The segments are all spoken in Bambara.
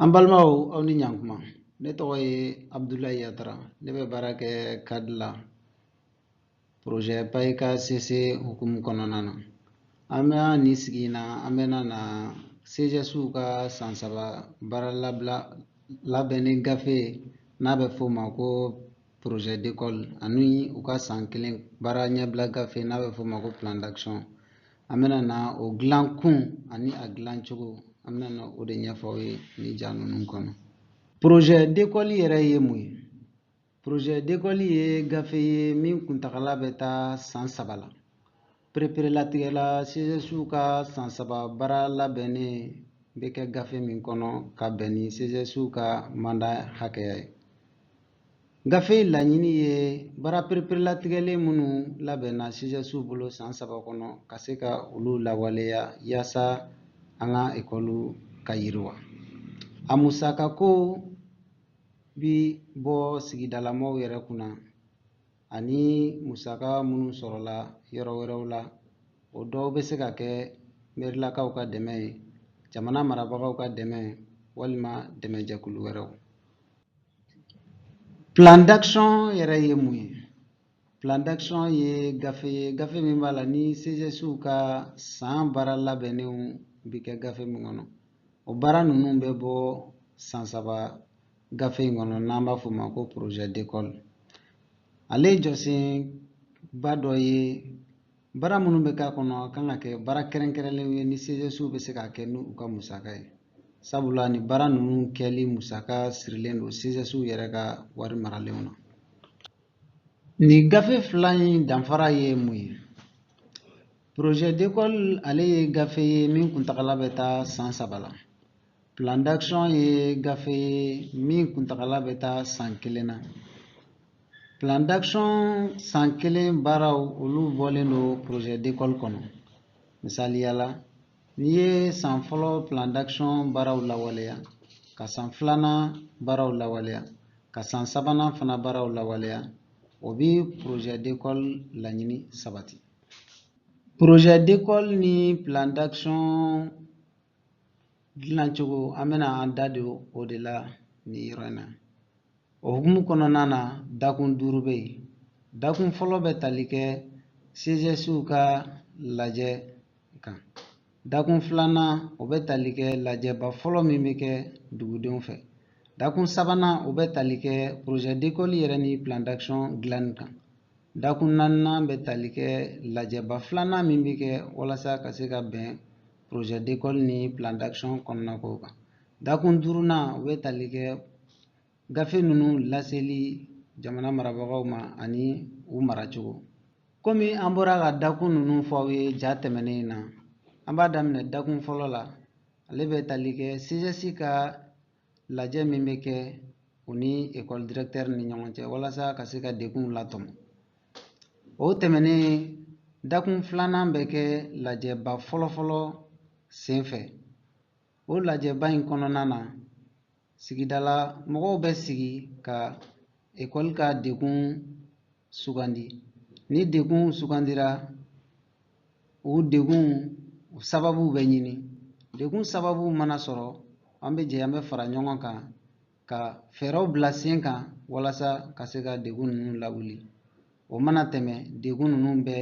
an balimaw aw ni ɲankuma ne tɔgɔ ye abudulayi yatara ne bɛ baara kɛ CAD la porozɛ payika sese hukumu kɔnɔna na an bɛ nin sigi in na an bɛna na CGSw ka san saba baara labila labɛnni gafe n'a bɛ f'o ma ko projet d'école ani u ka san kelen baara ɲɛbila gafe n'a bɛ f'o ma ko plan d'action an bɛna na o dilan kun ani a dilan cogo an bɛna na o de ɲɛfɔ aw ye nin ja ninnu kɔnɔ projet d'école yɛrɛ ye mun ye projet d'école ye gafe ye min kuntagala bɛ taa san saba la pereperelatigɛla CGSw ka san saba baara labɛnnen bɛ kɛ gafe min kɔnɔ ka bɛn ni CGSw ka manda hakɛya ye gafe in laɲini ye baara pereperelatigɛlen minnu labɛnna CGSw bolo san saba kɔnɔ ka se ka olu lawaleya yaasa an ka ekɔliw ka yiriwa a musakako bi bɔ sigidalamɔgɔw yɛrɛ kunna ani musaka minnu sɔrɔla yɔrɔ wɛrɛw la o dɔw bɛ se ka kɛ merilakaw ka dɛmɛ ye jamana marabagaw ka dɛmɛ walima dɛmɛjɛkulu wɛrɛw Plan d'action yɛrɛ ye mun ye? Plan d'action ye gafe ye gafe min b'a la ni CGSw ka san baara labɛnnenw bi kɛ gafe min kɔnɔ o baara ninnu bɛ bɔ san saba gafe in kɔnɔ n'an b'a fɔ o ma ko projet d'école ale jɔsenba dɔ ye Baara minnu bɛ k'a kɔnɔ a kan ka kɛ baara kɛrɛnkɛrɛnlenw ye ni CGSw bɛ se k'a kɛ n'u ka musaka ye sabula nin baara ninnu kɛli musaka sirilen don CGSw yɛrɛ ka wari maralenw na. Nin gafe fila in danfara ye mun ye? Projet d'école ale ye gafe ye min kuntagala bɛ taa san saba la. Plan d'action ye gafe ye min kuntagala bɛ taa san kelen na. Plan d'action san kelen baaraw olu bɔlen don projet d'école kɔnɔ. Misaliya la, n'i ye san fɔlɔ plan d'action baaraw lawaleya, ka san filanan baaraw lawaleya, ka san sabanan fana baaraw lawaleya, o bi projet d'école laɲini sabati. Projet d'école ni plan d'action dilancogo an bɛna an da don o de la nin yɔrɔ in na o hukumu kɔnɔna na dakun duuru bɛ yen dakun fɔlɔ bɛ tali kɛ CGSw ka lajɛ kan dakun filanan o bɛ tali kɛ lajɛba fɔlɔ min bɛ kɛ dugudenw fɛ dakun sabanan o bɛ tali kɛ projet d'école yɛrɛ ni plan d'action dilanni kan dakun naaninan bɛ tali kɛ lajɛba filanan min bɛ kɛ walasa ka se ka bɛn projet d'école ni plan d'action kɔnɔna kow kan dakun duurunan o bɛ tali kɛ gafe ninnu laseli jamana marabagaw ma ani u maracogo komi an bɔra ka dakun ninnu fɔ aw ye ja tɛmɛnen in na an b'a daminɛ dakun fɔlɔ la ale bɛ tali kɛ CGS ka lajɛ min bɛ kɛ u ni ekɔli directeur ni ɲɔgɔn cɛ walasa ka se ka degunw latɔmɔ o tɛmɛnen dakun filanan bɛ kɛ lajɛba fɔlɔfɔlɔ senfɛ o lajɛba in kɔnɔna na sigidala mɔgɔw bɛ sigi ka ekɔli ka degun sugandi ni degun sugandira o degun sababu bɛ ɲini degun sababu mana sɔrɔ an bɛ jɛ an bɛ fara ɲɔgɔn kan ka fɛɛrɛw bila sen kan walasa ka se ka degun ninnu lawuli o mana tɛmɛ degun ninnu bɛ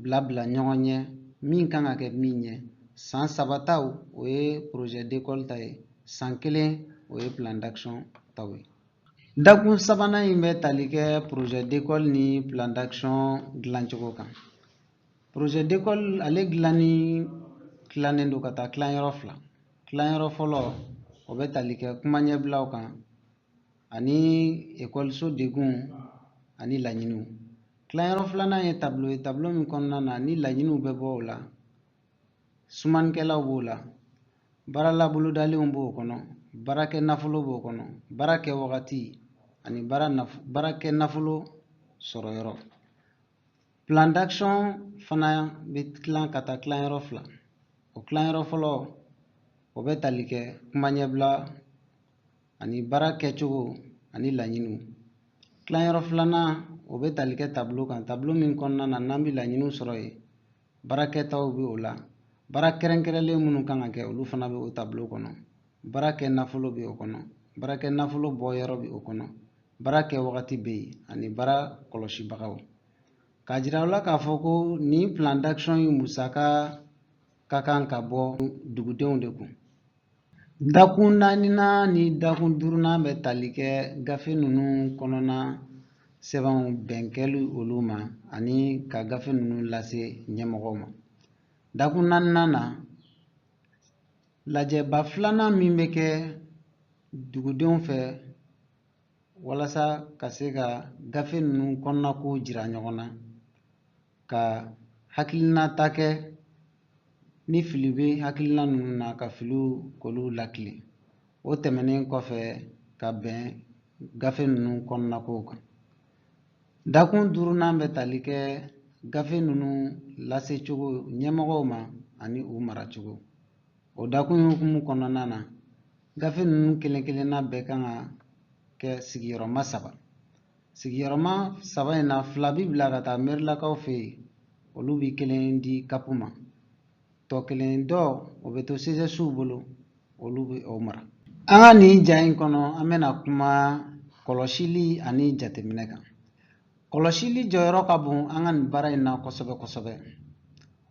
bila bila ɲɔgɔn ɲɛ min kan ka kɛ min ɲɛ san saba taw o ye projet d'école ta ye san kelen o ye plan d'action taw ye Dakun sabanan in bɛ tali kɛ projet d'école ni plan d'action dilancogo kan projet d'école ale dilanni tilannen don ka taa tilanyɔrɔ fila tilanyɔrɔ fɔlɔ o bɛ tali kɛ kuma ɲɛbilaw kan ani ekɔliso degunw ani laɲiniw tilanyɔrɔ filanan ye tablo ye tablo min kɔnɔna na ni laɲiniw bɛ bɔ o la sumanikɛlaw b'o la baara labolodalenw b'o kɔnɔ baarakɛ nafolo b'o kɔnɔ baara kɛ wagati ani baara nafo baara kɛ nafolo sɔrɔ yɔrɔ plan d'action fana bɛ tilan ka taa tilanyɔrɔ fila o tilanyɔrɔ fɔlɔ o bɛ tali kɛ kuma ɲɛbila ani baara kɛcogo ani laɲiniw tilanyɔrɔ filanan o bɛ tali kɛ tablo kan tablo min kɔnɔna na n'an bɛ laɲiniw sɔrɔ yen baarakɛtaw bɛ o la baara kɛrɛnkɛrɛnlen minnu kan ka kɛ olu fana bɛ o tablo kɔnɔ baara kɛ nafolo bɛ o kɔnɔ baarakɛ nafolo bɔ yɔrɔ bɛ o kɔnɔ baara kɛ wagati bɛ yen ani baara kɔlɔsibagaw k'a jira aw la k'a fɔ ko nin plan d'action in musaka ka kan ka bɔ dugudenw de kun Dakun naaninan ni dakun duurunan bɛ tali kɛ gafe ninnu kɔnɔna sɛbɛnw bɛnkɛli olu ma ani ka gafe ninnu lase ɲɛmɔgɔw ma dakun naaninan na lajɛba filanan min bɛ kɛ dugudenw fɛ walasa ka se ka gafe ninnu kɔnɔnakow jira ɲɔgɔn na ka hakilinata kɛ ni fili bɛ hakilina ninnu na ka filiw k'olu lakilen o tɛmɛnen kɔfɛ ka bɛn gafe ninnu kɔnɔnakow kan dakun duurunan bɛ tali kɛ gafe ninnu lasecogo ɲɛmɔgɔw ma ani u maracogo o dakun hukumu kɔnɔna na gafe ninnu kelen kelenna bɛɛ kan ka kɛ sigiyɔrɔma saba sigiyɔrɔma saba in na fila bi bila ka taa merilakaw fɛ yen olu bi kelen di kapu ma tɔ kelen dɔ o bɛ to sezɛsiw bolo olu bɛ o mara an ka nin ja in kɔnɔ an bɛna kuma kɔlɔsili ani jateminɛ kan kɔlɔsili jɔyɔrɔ ka bon an ka nin baara in na kosɛbɛ kosɛbɛ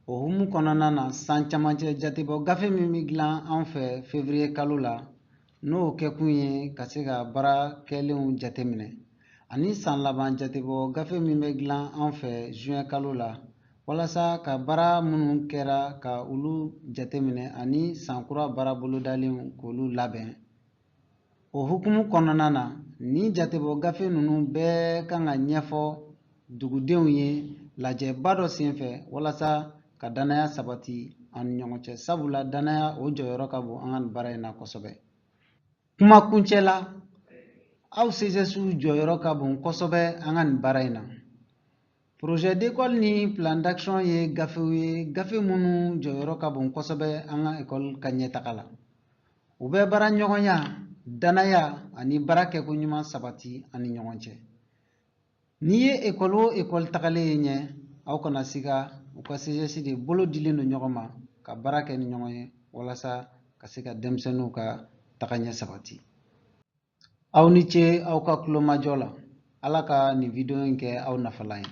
o hukumu kɔnɔna na san camancɛ jatebɔ gafe min bɛ dilan an fɛ fevriye kalo la n'o kɛkun ye ka se ka baara kɛlenw jateminɛ ani san laban jatebɔ gafe min bɛ dilan an fɛ zuwɛn kalo la walasa ka baara minnu kɛra ka olu jateminɛ ani san kura baara bolodalenw k'olu labɛn o hukumu kɔnɔna na nin jatebɔ gafe ninnu bɛɛ kan ka ɲɛfɔ dugudenw ye lajɛba dɔ senfɛ walasa ka danaya sabati an ni ɲɔgɔn cɛ sabula danaya o jɔyɔrɔ ka bon an ka nin baara in na kosɛbɛ kuma kuncɛ la aw sezɛsiw jɔyɔrɔ ka bon kosɛbɛ an ka nin baara in na Projet d'école ni plan d'action ye gafew ye gafe minnu jɔyɔrɔ ka bon kosɛbɛ an ka ekɔli ka ɲɛtaga la u bɛ baara ɲɔgɔnya danaya ani baara kɛko ɲuman sabati an ni ɲɔgɔn cɛ n'i ye ekɔli o ekɔli tagalen ye ɲɛ aw kana siga u ka CGS de bolo dilen don ɲɔgɔn ma ka baara kɛ ni ɲɔgɔn ye walasa ka se ka denmisɛnninw ka tagaɲɛ sabati aw ni ce aw ka kulomajɔ la ala ka nin wideyo in kɛ aw nafalan ye